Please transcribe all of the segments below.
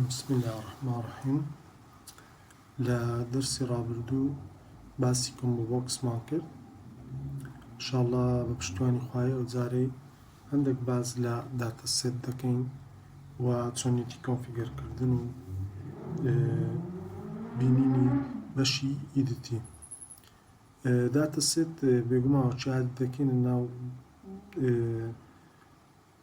بسم اللە الرحمن الرحیم لە دەرسی ڕابردوو باسی کۆمبۆ بۆکسمان کرد انشاءاللە بە پشتوانی خوای ئەو جارەی هەندێک باز لە داتە سێت دەکەین و چۆنێتی کۆنفیگەرکردن و بینینی بەشی ئیدتی داتە سێت بێگوماوە چاد دەکەینە ناو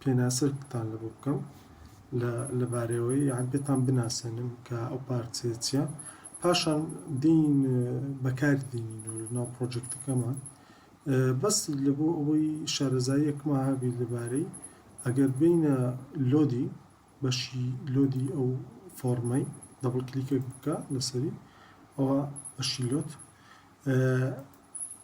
پێناسەتان لەبۆ بکەم لە لەبارەیەوە یان پێتان بناسێنم کە ئەو پارچەیە چیە پاشان دین بەکار دینینەوە لەناو پرۆژێکتەکەمان بەس لە بۆ ئەوەی شارەزاییەکما هەبی لەبارەی ئەگەر بینە لۆدی بەشی لۆدی ئەو فۆرمەی دەبڵ کلیکێک بکە لەسەری ئەوە بەشی لۆت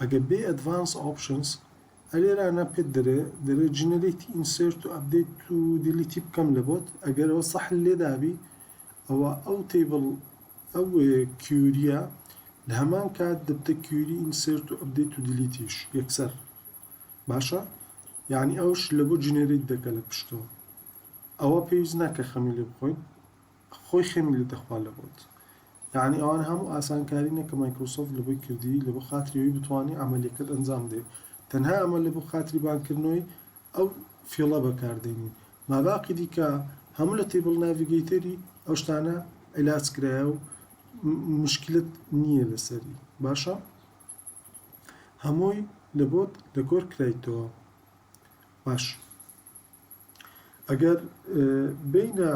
ئەگەر بێی ئەدڤانس ئۆپشنس ئەلێرانە پێت دەرێ دەرێ جنریت ئینسێرت و ئەپدەیت و دیلیتی بکەم لە بۆت ئەگەر ئەوە سەح لێدابی ئەوە ئەو تەیبڵ ئەو کیوریە لە هەمان کات دەبتە کیوری ئینسێرت و ئەپدەیت و دیلیتیش یەکسەر باشە یعنی ئەوش لە بۆ جنریت دەکە لە پشتەوە ئەوە پێویست ناکە خەمی لێ بخۆین خۆی خەمی لێ دەخوا لە بۆت یەعنی ئەوان هەموو ئاسانکارینە کە مایکرۆسۆفت لەبۆی کردی لەبۆ خاتری ئەوەی بتوانی عەمەلیەکەت ئەنجام بدەی تەنها ئەمە لەبۆ خاتری بانکردنەوەی ئەو فیڵە بەکار دێنی ماباقی دیکە هەموو لە تیبڵ ناڤیگەیتەری ئەو شتانە عیلاج کرایە و مشکلت نییە لەسەری باشە هەمووی لەبۆت دەکۆر کرایتەوە باش ئەگەر بێینە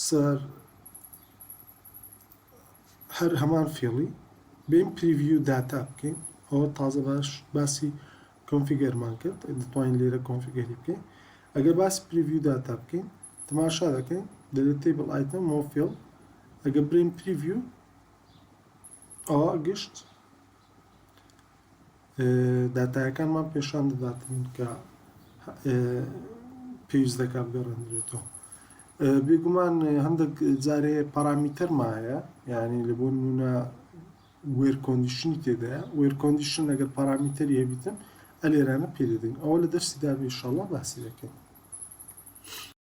سەر هەر هەمان فێڵی بێین پریڤیو داتا بکەین ئەوە تازە باش باسی کۆنفیگەرمان کرد دەتوانین لێرە کۆنفیگەری بکەین ئەگەر باسی پریڤیو داتا بکەین تماشا دەکەین دەلێت تیبل ئایتم مۆفیل ئەگە برین پریڤیو ئەوە گشت داتایەکانمان پێشان دەدات کە پێویست دەکات بگەڕێنرێتەوە بێگومان هەندێک جارێ پارامیتەرما هەیە یعنی لە بۆ نمونە وێر کۆندیشنی تێدایە وێر کۆندیشن لەگەر پارامیتەری هەبیتن ئەلێرانە پێدەدەین ئەوە لە دەرسی دابێشەڵە باسی دەکەین